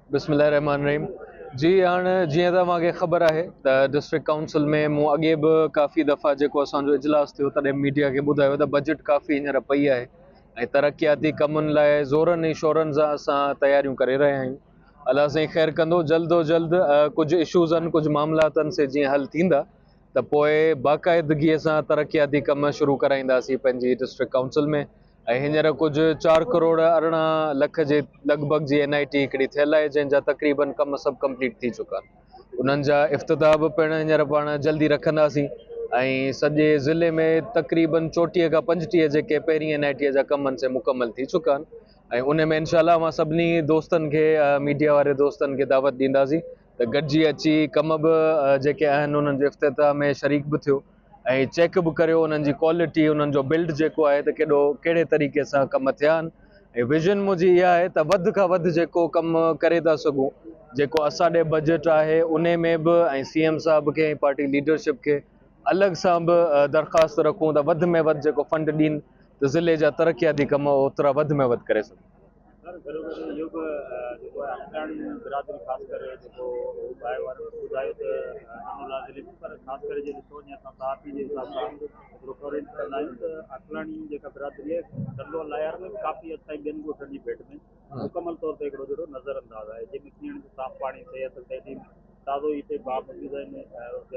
بسم الله الرحمن الرحيم جي هاڻ جيئن ته اوهان کي خبر آهي ته ڊسٽرڪٽ ڪائونسل ۾ مون اڳي به ڪافي دفعا جيڪو اسان جو اجلاس ٿيو تڏهن ميڊيا کي ٻڌايو ته بجيٽ ڪافي هينئر پئي آهي ۽ ترقياتي ڪمن لاء زورن ۽ شورن سان اسان تياريون ڪري رهيا آهيون الله سائين خير ڪندو جلد و جلد ڪجهه ايشوز آهن ڪجهه معاملا اٿن سي جيئن حل ٿيندا ته پوء باقاعدگيء سان ترقياتي ڪم شروع ڪرائينداسين پنهنجي ڊسٽرڪٽ ڪائونسل ۾ ۽ هينئر ڪجهه چار ڪروڙ ارڙهن لک جي لڳ ڀڳ جي اين آء ٽي هڪڙي ٿيل آهي جنهن جا تقريبن ڪم سڀ ڪمپليٽ ٿي چڪا آهن انهن جا افتتاح به پڻ هينئر پاڻ جلدي رکنداسين ۽ سڄي ضلعي ۾ تقريبن چوٽيهه کان پنجٽيهه جيڪي پهرين اين آء ٽي جا ڪم آهن سي مڪمل ٿي چڪا آهن ۽ ان ۾ انشاء الله اوهان سڀني دوستن کي ميڊيا واري دوستن کي دعوت ڏينداسين ته گڏجي اچي ڪم به جيڪي آهن انهن جي افتتاح ۾ شريڪ به ٿيو ۽ چيڪ به ڪريو انهن جي ڪوالٽي انهن جو بلڊ جيڪو آهي ته ڪيڏو ڪهڙي طريقي سان ڪم ٿيا آهن ۽ ويزن منهنجي اها آهي ته وڌ کان وڌ جيڪو ڪم ڪري ٿا سگهون جيڪو اسان ڏي بجيٽ آهي ان ۾ به ۽ سي ايم صاحب کي ۽ پارٽي ليڊرشپ کي الڳ سان به درخواست رکون ته وڌ ۾ وڌ جيڪو فنڊ ڏين ته ضلعي جا ترقياتي ڪم اوترا وڌ ۾ وڌ ڪري سگهون سر گهرو گهرو اهو به جيڪو آهي اڻڄاڻ برادري خاص ڪري جيڪو باهه وارن ٻڌايو ته امن لا ضلعي ۾ پر خاص ڪري جي ڏسو وڃي اسان صحافين جي حساب سان هڪڙو ڪورينٽ ڪندا آهيون ته اڪلاڻي جيڪا برادري آهي ٽنڊو لايار ۾ ڪافي حد تائين ٻين ڳوٺن جي ڀيٽ ۾ مڪمل طور تي هڪڙو جهڙو نظر انداز آهي جنهن ۾ پيئڻ جو صاف پاڻي صحت تعليم تازو هي ٽي باهه موجود آهن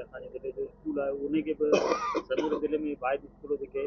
اسان جي ضلعي جو اسڪول آهي ان کي به سڄي ضلعي ۾ باهه جي اسڪول جيڪي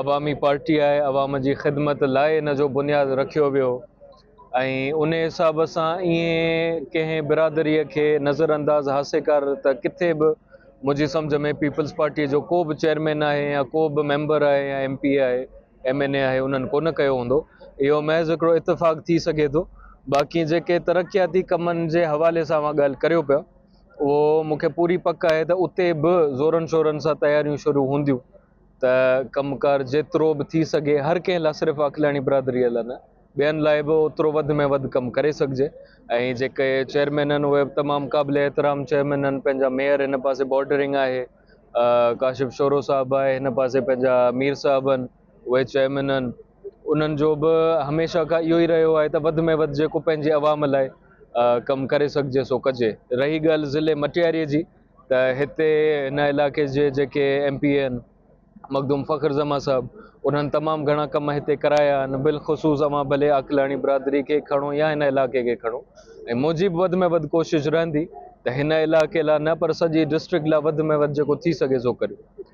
عوامي پارٽي آهي، عوام جي خدمت لاء ان جو بنياد رکيو ويو ۽ ان حساب سان ائين ڪنهن برادري کي نظر انداز هاسي ڪر ته ڪٿي به منهنجي سمجھ ۾ پيپلز پارٽي جو ڪو به چيئرمين آهي يا ڪو به ميمبر آهي يا ايم پي آهي ايم اين اي آهي انهن ڪونه ڪيو هوندو اهو محض هڪڙو اتفاق ٿي سگهي ٿو باقي جيڪي ترقياتي ڪمن جي حوالي سان اوهان ڳالهه ڪريو پيا اهو مون کي پوري پڪ آهي ته اتي به زورن شورن سان تياريون شروع هونديون ته ڪم ڪار جيترو به ٿي سگهي هر ڪنهن لاء صرف اکلاڻي برادري لاء نه ٻين لاء به اوترو وڌ ۾ وڌ ڪم ڪري سگهجي ۽ جيڪي چيئرمين آهن اهي به تمام قابل احترام چيئرمين آهن پنهنجا ميئر هن پاسي بارڊرنگ آهي ڪاشف شورو صاحب آهي هن پاسي پنهنجا مير صاحب آهن اهي چيئرمين آهن انهن جو به هميشه کان اهو ئي رهيو آهي ته وڌ ۾ وڌ جيڪو پنهنجي عوام لاء ڪم ڪري سگهجي سو ڪجي رهي ڳالهه ضلعي مٽياري جي ته هتي هن علائقي جي جيڪي M P N Makhdoom Fakhar Zaman صاحب انهن تمام گهڻا ڪم هتي ڪرايا آهن بالخصوص اوهان ڀلي عقلاڻي برادري کي کڻو يا هن علائقي کي کڻو ۽ منهنجي به وڌ ۾ وڌ ڪوشش رهندي ته هن علائقي لاء نه پر سڄي ڊسٽرڪٽ لاء وڌ ۾ وڌ جيڪو ٿي سگهي سو ڪريو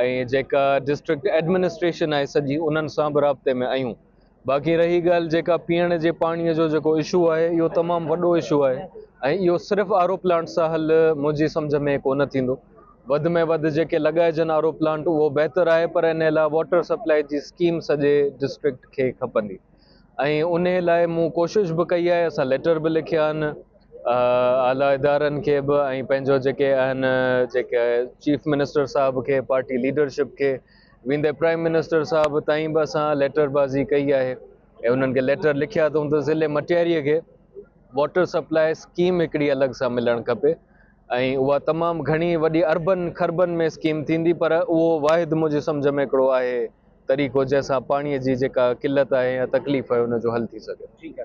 ۽ جيڪا ڊسٽرڪٽ ايڊمنسٽريشن آهي سڄي انهن سان به رابطي ۾ آهيون باقي رهي ڳالهه جيڪا پيئڻ جي پاڻي جو جيڪو اشو آهي اهو تمام وڏو اشو آهي ۽ اهو صرف آرو پلانٽ سان حل منهنجي سمجھ ۾ ڪو نه ٿيندو وڌ ۾ وڌ جيڪي لڳائجن آرو پلانٽ اهو بهتر آهي پر ان لاء واٽر سپلائي جي اسڪيم سڄي ڊسٽرڪٽ کي کپندي ۽ انهي لاء مون ڪوشش به ڪئي آهي اسان ليٽر به لکيا آهن اعليٰ ادارن کي به ۽ پنهنجو جيڪي آهن جيڪي چيف منسٽر صاحب کي پارٽي ليڊرشپ کي ويندي پرائم منسٽر صاحب تائين به اسان ليٽر بازي ڪئي آهي ۽ انهن کي ليٽر لکيا اٿئون ته ضلعي مٽياري کي واٽر سپلاء اسڪيم هڪڙي الڳ سان ملڻ کپي ۽ اها تمام گهڻي وڏي اربن کربن ۾ اسڪيم ٿيندي پر اهو واحد منهنجي سمجهه ۾ هڪڙو آهي طريقو جنهن سان پاڻي جي جيڪا قلت آهي يا تڪليف آهي ان جو حل ٿي سگهي.